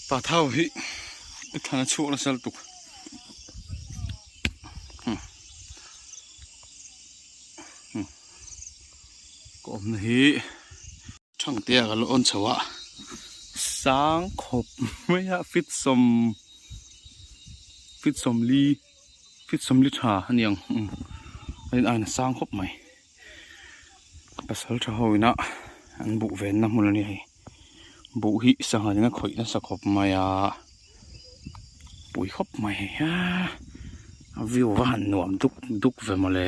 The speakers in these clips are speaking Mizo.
Pa thau hi u than a chhuak la sal tuk hmm. hmm. ko om na hi thang te a lo on chawa sang khop mai a fit som fit som li fit som li tha aniang hmm. ai na sang khop mai Pasalṭha ho ina an buh venna hmun a ni hei buh hi sangha zinga khawih nasa khawp mai a pui khawp mai hei a a view a han nuam duk duk ve mawle.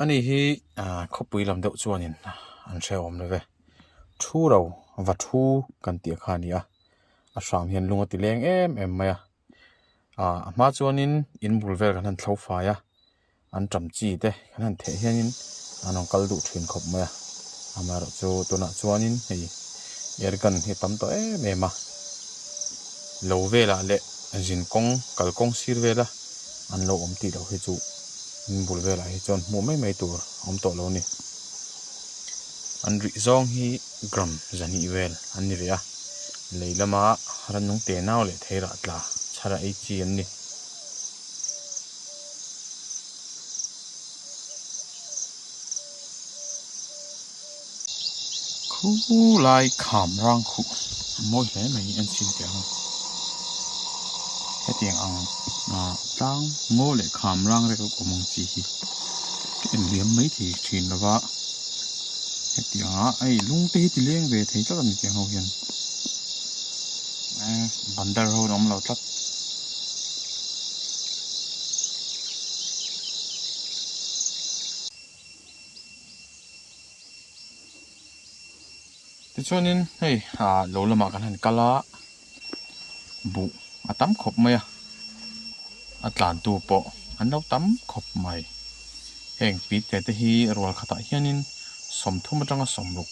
Ani hi khawpui lam deuh chuanin an hre awm love. Thu ro, va thu kan tih kha a ni a. A hrang hian lung a ti leng em em mai a. A hma chuanin in bul vel kan han thlo fai a, an ṭam chi te kan han theih hianin an rawn kal duh ṭhin khawp mai a. Amaherawh chu tunah chuanin hei air gun hi a tam tawh em em a. Lo velah leh zin kawng, kal kawng sir vela. An lo awm tih loh hi chu min bul velah hi chuan hmuh mai mai tur a awm tawh lo ni. An rih zawng hi gram zahnih vel an ni ve a, lei lama rannung te nau leh thei rah tla chhar a ei chi an ni. Khulai kham rang khuh mawi hle mai an chim tih ang. Hetiang ang ah tlang maw leh kham rang rek awm ang chi hi ka en hliam mai thei thin lo va. Hetiang ah hei lungte hi ti leng ve thei tlat a ni tih ang ho hian eh bandar ho an awm lo tlat. Tichuanin hei ah lo lamah kan han kal a buh a tam khawp mai a a tlantu pawh an lo tam khawp mai heng pi te te hi rual khatah hianin sawm thum atanga sawm ruk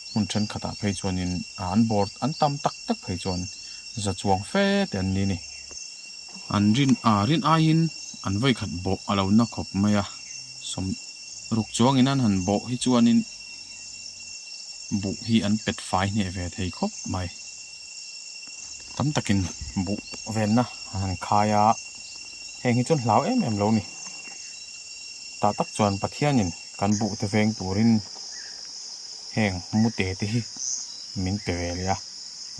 hmun thenkhatah phei chuanin an bawr an tam tak tak phei chuan za chuang fe te an ni a ni. An rin a rin aiin an vawi khat bawh a lo na khawp mai a, sawm ruk chuangin an han bawh hi chuanin buh hi an pet fai hneh ve thei khawp mai. Tam takin buh velna an han khai a, heng hi chuan hlau em em lo ni. Tah tak chuan Pathianin kan buh te veng turin heng mute te hi min pe ve leh a,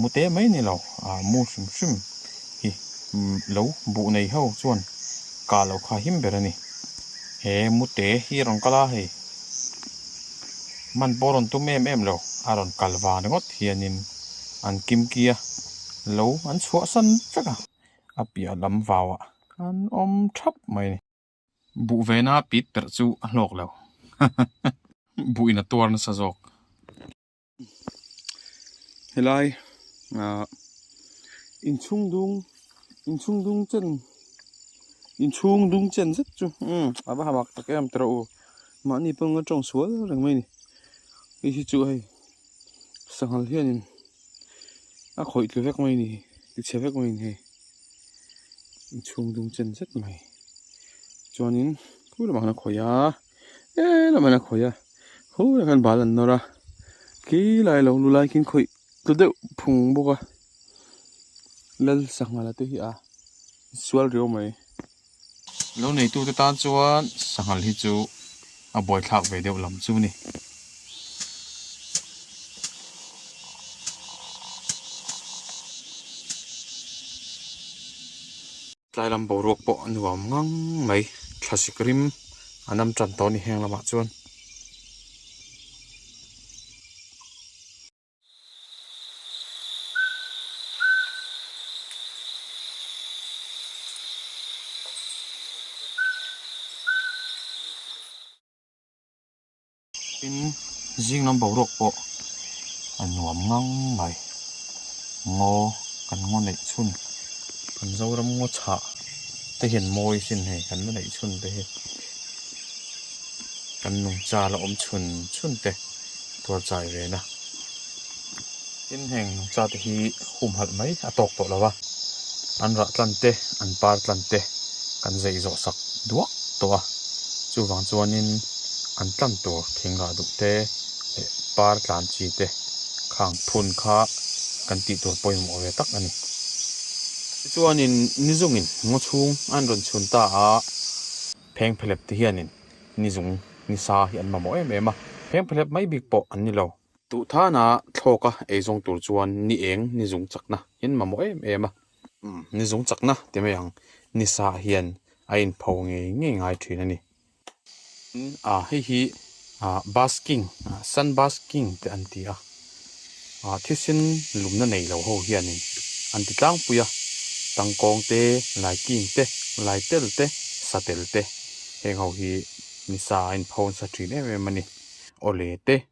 mute mai ni lo, mu hrim hrim hi lo buh nei ho chuan kah lo kha him ber a ni. He mute hi a rawn kal a hei, man pawh a rawn tum em em lo, a rawn kal vang ringawt hianin an kimkia lo an chhuah san vek a, a piah lam vauah an awm thap mai a ni. Buh vena pit perh chu a hlawk lo, buhin a tuar nasa zawk. helai ah inchhung dung inchhung dung chen inchhung dung chen zet chu um ava hamak tak em tawrh u mahni pawh anga tawng sual reng mai ni hei hi chu hei sanghal hianin a khawih tlu vek mai ni ti chhe vek mai ni hei inchhung dung chen zet mai chuanin khawih a. Êê lamah hian a khawih a, khawih ah khan bal an nawr a, khi lai lo lu lai khin khawih tlu deuh phung bawk a, Lal sanghal a te hi a sual riau mai. Lo neitu te tan chuan sanghal hi chu a buaithlak ve deuh lam chu ni. Tlai lam boruak pawh a nuam ngang mai. Thla sik rim an awm tan tawh a ni heng lamah chuan. Tin, zing lam boruak pawh a nuam ngang mai. Ngaw kan ngaw neih chhun, kan Zoram ngaw chhah te hian mawi sin hei kan la neih chhun te hi kan nungcha la awm chhun chhun te tuar chai ve na. Inheng cha te hi humhalh mai a tawk tawh lo a, an rah tlan te an par tlan te kan zai zawh sak duak tawh a, chuvang chuanin an tlan tur thing rah duh te leh par tlan chi te khang phun kha kan tih tur pawimawh ve tak a ni. Tichuanin ni zungin ngaw chhung an rawn chhun ta a, pheng phelep te hianin ni zung ni sa hi an mamawh em em a, pheng phelep mai bik pawh an ni lo. Duh thana thlawka ei zawng tur chuan ni eng ni zung chakna hian mamawh em em a. Ni zung chakna ti mai ang ni sa hian a in pho ngei ngei ngai thin a ni. Tin ah hei hi ah basking ah sun basking te an ti a ah thisin lumna nei lo ho hian in an ti tlangpui a tang kawng te lai kîng te lai tel te sa tel te heng ho hi ni sa ah a in pho nasa thin em em a ni aw le te.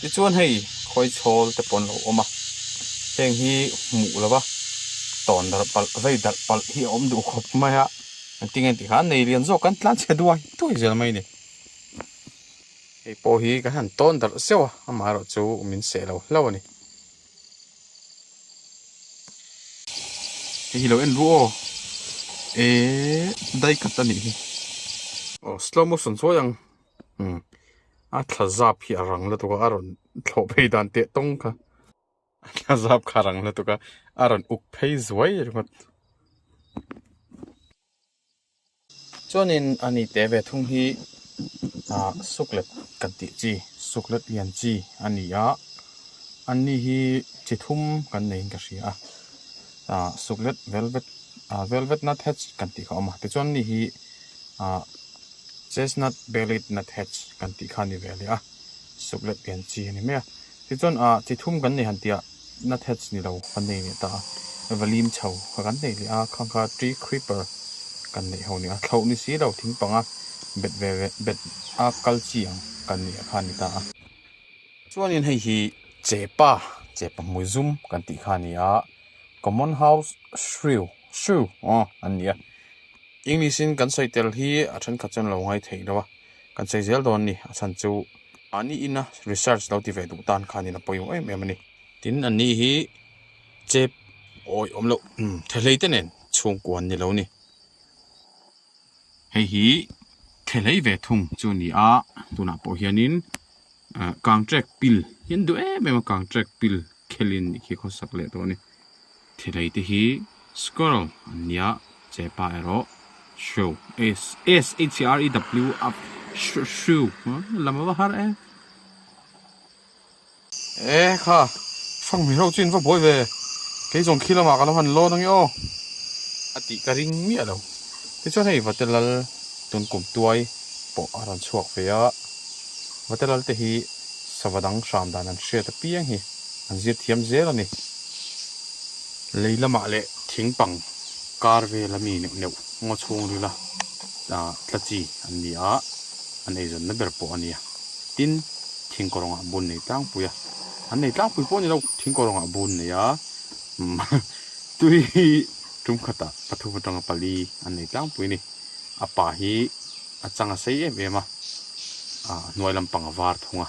Tichuan hei khawi chhawl te pawh an lo awm a, heng hi hmuh lo va, tawn darh palh vei darh palh hi a awm duh khawp mai a, engtin nge tikhan nei lian zawk kan tlan chhia duai duai zel mai a ni. Hei pawh hi ka han tawn darh zeuh a, amaherawh chu min seh lo hlo a ni. Hei hi lo en ru aw, eehh die cut a nih hi. Aw slow motion sawi ang Umm. A thla zap hi a rang lutuk a, a rawn thlawh phei dan teh tawng kha. A thla zap kha a rang lutuk a, a rawn uk phei zuai ringawt. Chuanin a ni teh ve thung hi ah suklet kan tih chi, suklet lian chi a ni a. An ni hi chi thum kan neiin ka hria a. Ah suklet velvet ah velvet nut hatch kan tih kha a awm a. Tichuan a ni hi ah. Chestnut bellied nuthatch kan tih kha a ni ve leh a, suk let lian chi a ni mai a. Tichuan a chi thum kan nei han tia nuthatch ni lo kan nei leh ta a, valim chho kha kan nei leh a, khang kha tree creeper kan neih ho nia, thloh ni si lo thing panga bet ve ve bet a kal chi ang kan nih a kha a ni ta a. Chuanin hei hi chepa, chepa hmui zum kan tih kha a ni a, common house shrew True, aw an nia. English in kan sawi tel hi a thenkhat chuan lo ngai theih lo a, kan sawi zel dawn ni, a chhan chu a ni ina research lo ti ve duh tan kha nin a pawimawh em em a ni. Tin an nih hi chep awih awm loh umm thehlei te nen chhungkua an ni lo ni. Hei hi thehlei ve thung chu a ni a, tunah pawh hian in kang trek pil hi an duh em em a, kang trek pil khelin khi khawsak leh tawh a ni. Thilei te hi squirrel an nia che pa erawh shrew S S H E R E W a shrew shrew lam a va har e. E kha hrang hmel ho chin va buai ve kei zawng khi lamah ka lo han lawn ange aw a tih ka ring miah lo tichuan hei vate lal tun kum tuai pawh a rawn chhuak ve a vate lal te hi sava dang hram dan an hriat apiang hi an zir thiam zel a ni. Lei lamah leh thing pang kar vela mi neuh neuh ngaw chhung rila tla chi an ni a, an eizawnna ber pawh a ni a. Tin, thing kawrawngah bun nei tlangpui a, an nei tlangpui pawh a ni lo, thing kawrawngah bun nei a, tui tum khatah pathum atanga pali an nei tlangpui a ni. A pa hi a changa sei em em a, a hnuai lampang a var thung a.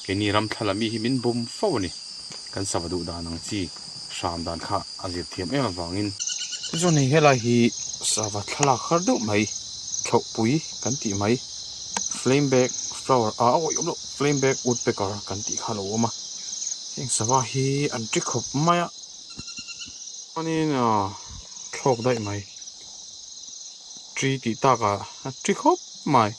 Keini ramthla la mi hi min bum fo a ni. Kan sava duh dan ang chi, hram dan kha a zir thiam em avangin. Tichuan hei helai hi sava thlalak har deuh mai, thlauhpui kan tih mai, flame bag flower ah a awih awm loh, flame bag woodpecker kan tih kha a lo awm a. Heng sava hi an ṭi khawp mai a, chuanin a thlawk daih mai, ṭi tih takah a ṭi khawp mai.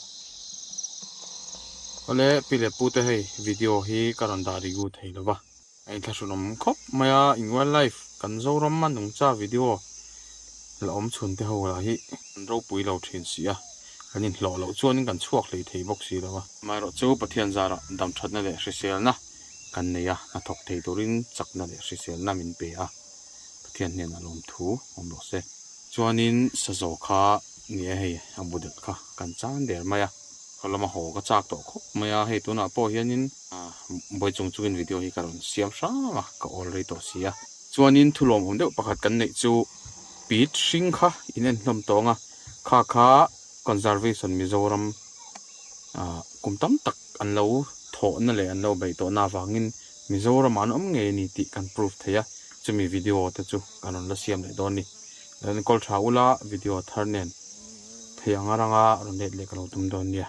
Awle Pi leh Pu te hei video hi ka rawn dah ri gu thei lo va. A in thlahrunawm khawp mai a, in wild life kan Zoram a nungcha video la awm chhun te ho lah hi kan ropui lo thin si a, kan in hlawh loh chuan in kan chhuak hlei thei bawk si lo a. Amaherawh chu Pathian zarah dam thatna leh hriselna kan nei a, hnathawk thei turin chakna leh hriselna min pe a. Pathian hnenah lawmthu awm lo se. Chuanin Sazaw kha ni e hei a bu dat kha kan chan der mai a. Ka lawma haw ka chak tawh khawp mai a, hei tunah pawh hianin Bawi chung chungin video hi ka rawn siam hrang a, ka awl rei tawh si a. Chuanin thu lawmawm deuh pakhat kan neih chu Pit hring kha in en hlawm tawng a, khakha Conservation Mizoram kum tam tak an lo thawhna leh an lo beih tawhna avangin Mizoram ah an awm ngei a ni tih kan proof thei a, chumi video te chu kan rawn la siam leh dawn ni. Kan call tha ula video thar nen thei anga ranga rawn let leh ka lo tum dawn nia.